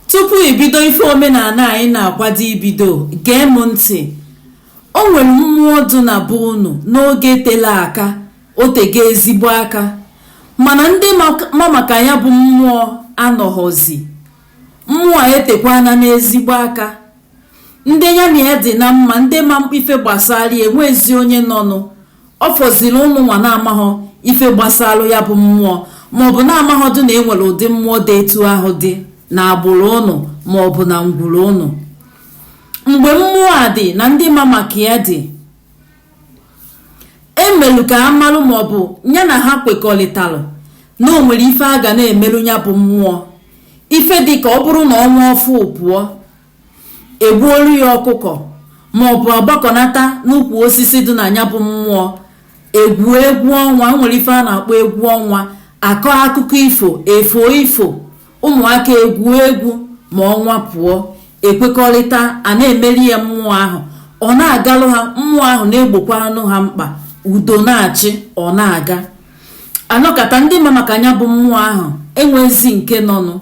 tupu ibido ife omenana anyị na-akwado ibido gee m ntị o nwere mmụọ dụ na be unu n'oge tele aka o tego ezigbo aka mana ndị ma maka ya bụ mmụọ anọghọzi mmụọ etekwana n'ezigbo aka ndị ya na ya dị na mma ndị ma ife gbasara ya enwezi onye nọnụ ọ fọziri ụnụnwa na-amaghọ ife gbasalụ ya bụ mmụọ maọbụ na-amaghọdụ na enwere ụdị mmụọ dị etu ahụ dị na agbụrụ ụnụ maọbụ na ngwuru ụnụ mgbe mmụọ a dị na ndị ma maka ya dị emelu ka ha malụ maọbụ ya na ha kwekọrịtalụ na o nwere ife a ga na-emelụ ya bụ mmụọ ife dị ka ọ bụrụ na ọnwa ọfụụ pụọ egbuolu ya ọkụkọ maọbụ agbakọnata n'ukwu osisi dị na ya bụ mmụọ egwuo egwu ọnwa nwere ife a na-akpọ egwu ọnwa akọọ akụkọ ifo efoo ifo ụmụaka egwuo egwu ma ọnwa pụọ ekwekọrịta a na-emere ya mmụọ ahụ ọ na-agalụ ha mmụọ ahụ na-egbokwanụ ha mkpa udo na-achị ọ na-aga anọkata ndị ma maka ya bụ mmụọ ahụ enwezi nke nọnụ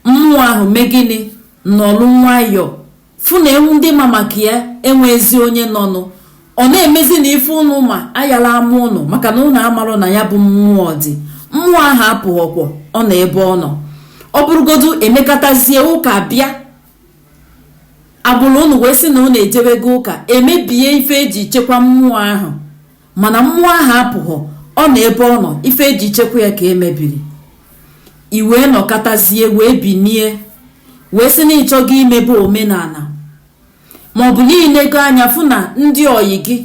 mmụọ ahụ mee gịnị nọlụ nwayọọ fụ na ewu ndị ma maka ya enwezi onye nọnụ ọ na-emezi na ife ụnụ ma ayala ama ụnụ maka na ụnụ amarọ na ya bụ mmụọ dị mmụọ ahụ apụghọkwọ ọ nọ ebe ọ nọ ọ bụrụgodu emekatazie ụka bịa agbụrụ ụnụ wee sị na ụnụ ejebego ụka emebie ife eji chekwa mmụọ ahụ mana mmụọ ahụ apụghọ ọ nọ ebe ọ nọ ife eji chekwa ya ka emebiri i wee nọkatazie wee binie wee sị na ị chọgo imebe omenana maọbụ na i leego anya fụ na ndị ọyị gị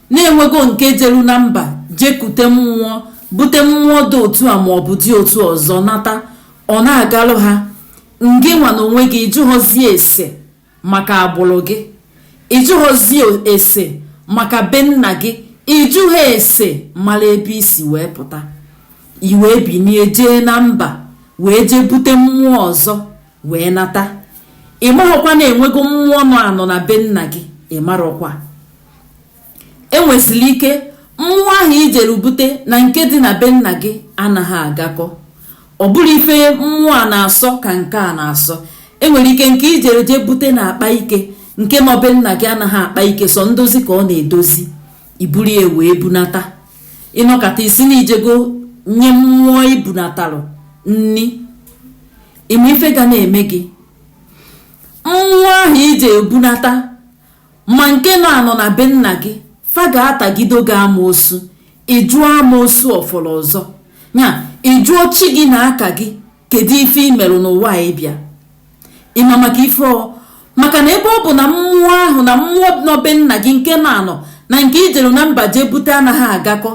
na enwego nke jelu na mba jekute mmụọ bute mmụọ dị otu a maọbụ dị otu ọzọ nata ọ na-agalụ ha ngị nwa na onwe gị ị jụghọzi ese maka agbụrụ gị ị jụghọzi ese maka be nna gị ị jụghọ ese mara ebe i si wee pụta i wee binie jee na mba wee jee bute mmụọ ọzọ wee nata ị maghọkwa na enwego mmụọ nọ anọ na be nna gị ị marọkwa enwesiri ike mmụọ ahụ ijere bute na nke dị na be nna gị anaghị agakọ ọ bụrọ ife mmụọ a na-asọ ka nke a na-asọ enwere ike nke ijere jee bute na-akpa ike nke be nna gị anaghị akpa ike sọ ndozi ka ọ na-edozi iburu ya wee bunata ịnọkata ị sị na ijego nye mmụọ ibunatalụ nni ịma ife ga na-eme gị mmụọ ahụ ijere bunata ma nke nọ anọ na be nna gị fa ga-atagido gị amoosu ị jụọ amoosu ọ fọrọ ọzọ ya ị jụọ chi gị na aka gị kedu ife ị merụ n'ụwa a ị bịa ị ma maka ife ọ maka na ebe ọ bụ na mmụọ ahụ na mmụọ nọ be nna gị nke nọ anọ na nke i jere na mba jee bute anaghị agakọ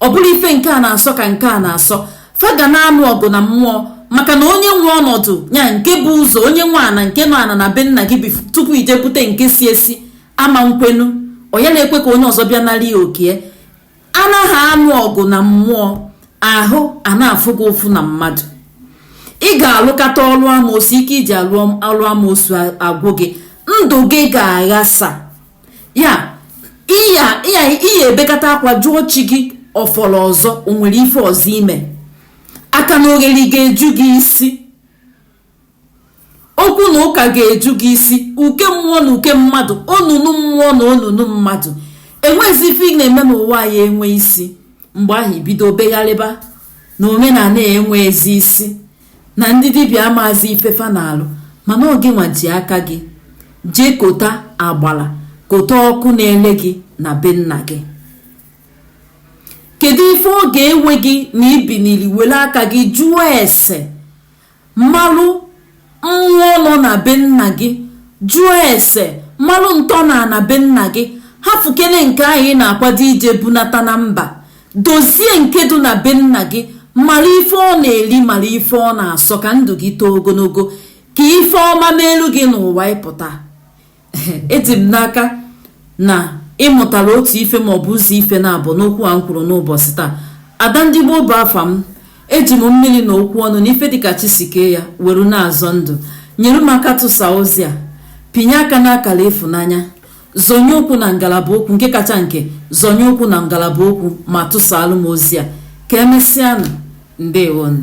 ọ bụrọ ife nke a na-asọ ka nke a na-asọ fa ga na-anụ ọgụ na mmụọ maka na onye nwe ọnọdụ ya nke bu ụzọ onye nwe ana nke nọ anọ na be nna gị bi tupu i jee bute nke si esi ama nkwenu onye na-ekwe ka onye ọzọ bịa nara ya oke a na ha anụ ọgụ na mmụọ ahụ ana-afụ gị ụfụ na mmadụ ị ga-alụkata ọlụ amoosu ike i ji alụ ọlụ amoosu agwụ gị ndụ gị ga-aghasa ya i ya i ya i ya-ebekata akwa jụọ chi gị ọ fọrọ ọzọ o nwere ife ọzọ i me akanaogeri ga-eju gị isi okwu na ụka ga-eju gị isi uke mmụọ na uke mmadụ onunu mmụọ na onunu mmadụ enweghịzi ife ị na-eme n'ụwa ya enwe isi mgbe ahụ i bido begharịba na omenala enweezi isi na ndị dibịa amaazị ife fa na-alụ mana ọ gịnwa ji aka gị jee kota agbala kota ọkụ na-ele gị na be nna gị kedu ife ọ ga-ewe gị na i binili were aka gị jụọ ese malụ mmụọ nọ na be nna gị jụọ ese malụ ntọ na ana be nna gị hafụkene nke ahụ ị na-akwado ije bunata na mba dozie nke dị na be nna gị mara ife ọ na-eri mara ife ọ na-asọ ka ndụ gị too ogologo ka ife ọma melụ gị n'ụwa ị pụta eji m n'aka na ị mụtara otu ife ma ọ bụ ụzọ ife naabọ n'okwu a m kwuru n'ụbọchị taa ada ndị gboo bụ afa m eji m mmiri na okwu ọnụ na ife dịka chi si kee ya were na-azọ ndụ nyere m aka tụsa ozi a pinye aka n'akara ịfụnanya zonye okwu na ngalaba okwu nke kacha nke zonye okwu na ngalaba okwu ma tụsaalụ m ozi a ka emesịanụ ndewonụ